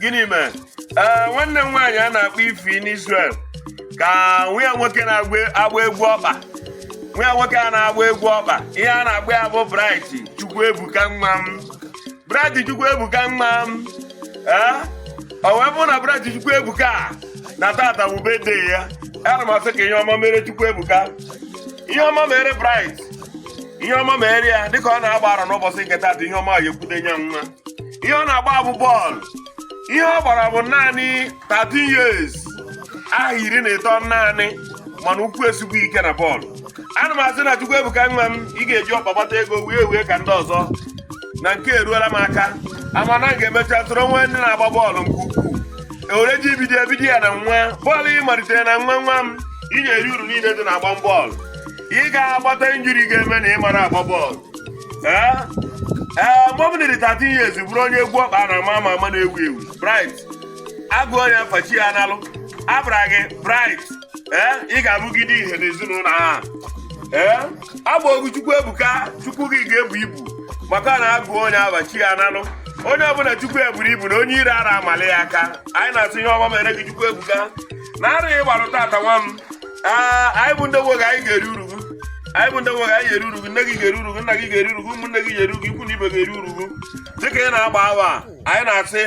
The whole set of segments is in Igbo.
gịnị mere ee nwanne m nwaanyị a na-akpọ Ifi n'Israel ka nwa ya nwoke na-agba egwu ọkpa nwa ya nwoke a na-agba egwu ọkpa ihe a na-akpọ ya bụ Bright Chukwuebuka nwa m Bright Chukwuebuka nwa m ee o wee bụrụ na Bright Chukwuebuka na taata bụ birthday ya ana m asị ka ihe ọma mere Chukwuebuka ihe ọma mere Bright ihe ọma mere ya dịka ọ na-agba arọ n'ụbọchị nke taata ihe ọma ya ekwute nye nwa ihe ọ na-agba bụ bọọlụ ihe ọ gbara bụ naanị 13 years aha iri na ịtọ naanị mana ụkwụ esigbuo ike na bọọlụ ana m asị na Chukwuebuka nwa m ị ga-eji ọkpa gbata ego wee wee ka ndị ọzọ na nke eruola m aka a ma na ị ga-emecha soro nwa ndị na-agba bọọlụ nke ukwuu ewere ji ibido ebido ya na nwa bọọlụ ị malitere na nwa nwa m ị ga-eri uru niile dị na agba bọọlụ ị ga-agbata injury ga-eme na ị mara agba bọọlụ ee ee mgbe ọ bụla dị 13 years bụrụ onye egwu ọkpa a na-ama ama ama na-ewu ewu Bright a gụ onye afa chi ya analụ a bara gị Bright ee ị ga-abụgide ihe n'ezinụlọ a ee a ba gị Chukwuebuka Chukwu gị ga-ebu ibu maka na a gụ onye afa chi ya analụ onye ọbụla Chukwu eburu ibu na onye iro ara amali ya aka anyị na-asị ihe ọma mere gị Chukwuebuka na arọ ị gbarụ taata nwa m Ee, anyị bụ ndị nwe gị anyị ga-eri uru gị anyị bụ ndị nwe gị anyị ga-eri uru gị nne gị ga-eri uru gị nna gị ga-eri uru gị ụmụnne gị ga-eri uru gị ikwu na ibe ga-eri uru gị dịka ị na-agba arọ a, anyị na-asị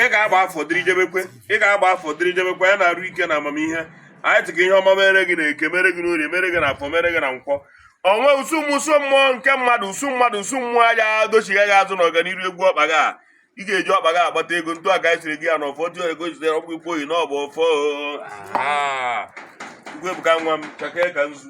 ị ga-agba afọ dịrị jebekwe ị ga-agba afọ dịrị jebekwe ya n'arụ ike na amamihe anyị sị ka ihe ọma mere gị na eke mere gị na orie mere gị na afọ mere gị na nkwọ o nwe usu mmụọ usu mmụọ nke mmadụ usu mmadụ usu mmụọ ja-adọchigha gị azụ n'ọganiru egwu ọkpa gị a ị ga-eji ọkpa gị agbata ego ntu a ka anyị siri gị ya na ọfọ dị ego jitere ọkpụ ikwu oyi na ọ bụ ọfọ Chukwuebuka nwa m chakee ka nzu